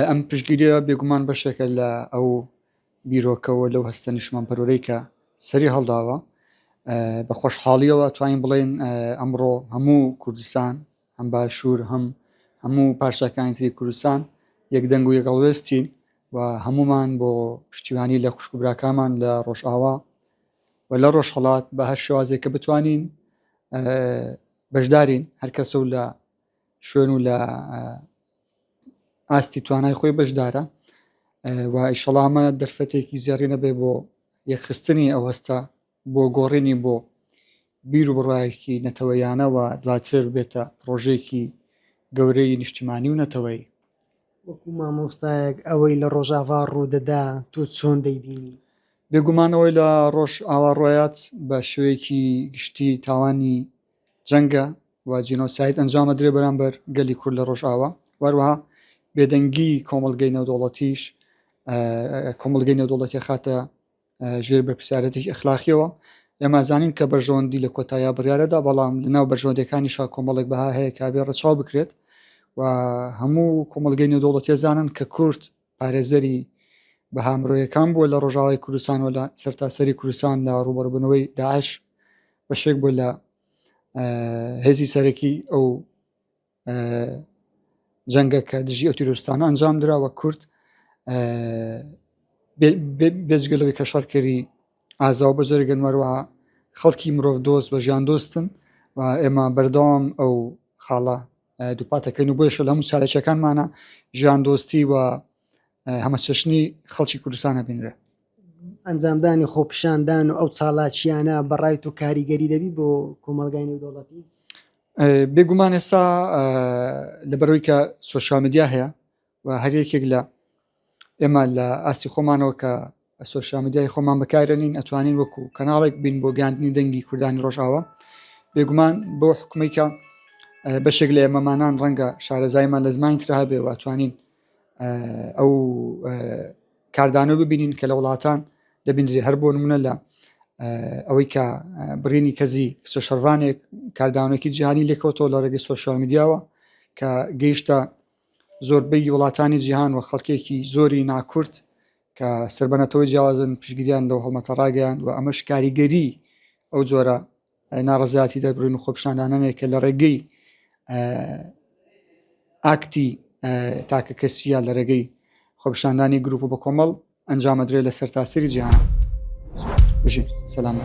ئەم پشگیریە بێگومان بەشێکە لە ئەو بیرۆکەوە لەو هەستە نیشمانپەرۆرەی کە سەری هەڵداوە بە خۆشحاڵیەوە توانین بڵێن ئەمڕۆ هەموو کوردستان هەم باشوور هەم هەموو پارچەکانی تری کوردستان یەک دەنگ و یەکەڵوێستین و هەمومان بۆ پشتیوانی لە خوشکبراکانمان لە ڕۆژئاوا و لە ڕۆژهڵات بە هەر شوازێک کە بتوانین بەشدارین هەرکەسە و لە شوێن و لە ئاستی توانای خۆی بەشدارە و ئیشەڵا ئەمە دەرفەتێکی زێڕینە بێ بۆ یەکخستنی ئەو هەستە بۆ گۆڕینی بۆ بیر و بڕایەکی نەتەوەیانەوە دواتر بێتە پرۆژێکی گەورەی نیشتیمانی و نەتەوەی وەکو مامۆستایەک ئەوەی لە ڕۆژاڤا ڕوودەدا تۆ چۆن دەیبینی؟ بێگومانەوەی لە ڕۆژ ئاوا ڕۆیات بە شوەیەکی گشتی تاوانی جەنگە و جینۆساید ئەنجام ئەدرێ بەرامبەر گەلی کورد لە ڕۆژئاوا وەروەها بێدەنگی کۆمەڵگەی نەودەوڵەتیش کۆمەڵگەی نەودەوڵەتی خاتە ژێر بەرپسیارەتێکی ئەخلاقیەوە ئێمە زانین کە بەرژەوەندی لە کۆتاییا بڕارەدا بەڵام لەناو بەرژەوەندەکانی شا کۆمەڵێک بەها هەیە کابێ ڕەچاو بکرێت و هەموو کۆمەلگەی نێودوڵەتێزانن کە کورد پارێزەری بەها مرۆیەکان بووە لە ڕۆژاوای کوردستان و لە سەرتاسەری کوردستان لە ڕوبەڕبوونەوەی داعش بەشێک بوو لە هێزی سەرەکی ئەو جەنگە کە دژی ئەو تیرۆستانە ئەنجام دراوە کورد بێجگەلەوەی کە شەڕکەری ئازاو بەجەرگەن وەروە خەڵکی مرۆڤ دۆست بە ژیان دۆستن و ئێمە بەردەوام ئەو خاڵە دووپات دەکەین و بۆیشە لە هەموو چالاکیەکانمانە ژیان دۆستی و هەمەچەشنی خەڵکی کوردستان هەبینرێ ئەنجامدانی خۆپیشاندان و ئەو چالاکیانە بەڕای تو کاریگەری دەبی بۆ کۆمەلگای نێودوڵەتی بێگومان ئێستا لەبەرەوەی کە سوۆشال میدیا هەیە و هەر یەکێک لە ئێمە لە ئاستی خۆمانەوە کە سۆشیا میدیای خۆمان بەکارێنین ئەتوانین وەکو کەناڵێک بین بۆ گەاندنی دەنگی کوردانی ڕۆژاوە بێگومان بۆ حکومەیکە بەشێک لە ئێمەمانان ڕەنگە شارەزایمان لە زمانی تررا بێ واتوانین ئەو کاردانە ببینین کە لە وڵاتان دەبیندرێ هەر بۆ نمونە لە ئەوەی کە بڕینی کەزی کچە شەڕوانێک کاردانێکی جیهانی لێکەوتەوە لە ڕێگەی سوۆشال میدیاوە کە گەیشتە زۆربەی وڵاتانی جیهان و خەڵکێکی زۆری ناکورد کە سەر بە نەتەوەی جیاوازن پشگیریان لەو هەڵمەتە ڕاگەیان و ئەمەش کاریگەری ئەو جۆرە ناڕزیاتی دەربڕین و خۆپشاندانانێک کە لە ڕێگەی ئاکتی تاکە کەسیە لە ڕێگەی خۆپشاندانی گروپ و بە کۆمەڵ ئەنجامەدرێت لە سەرتاسەری جیهان بژین سەلام.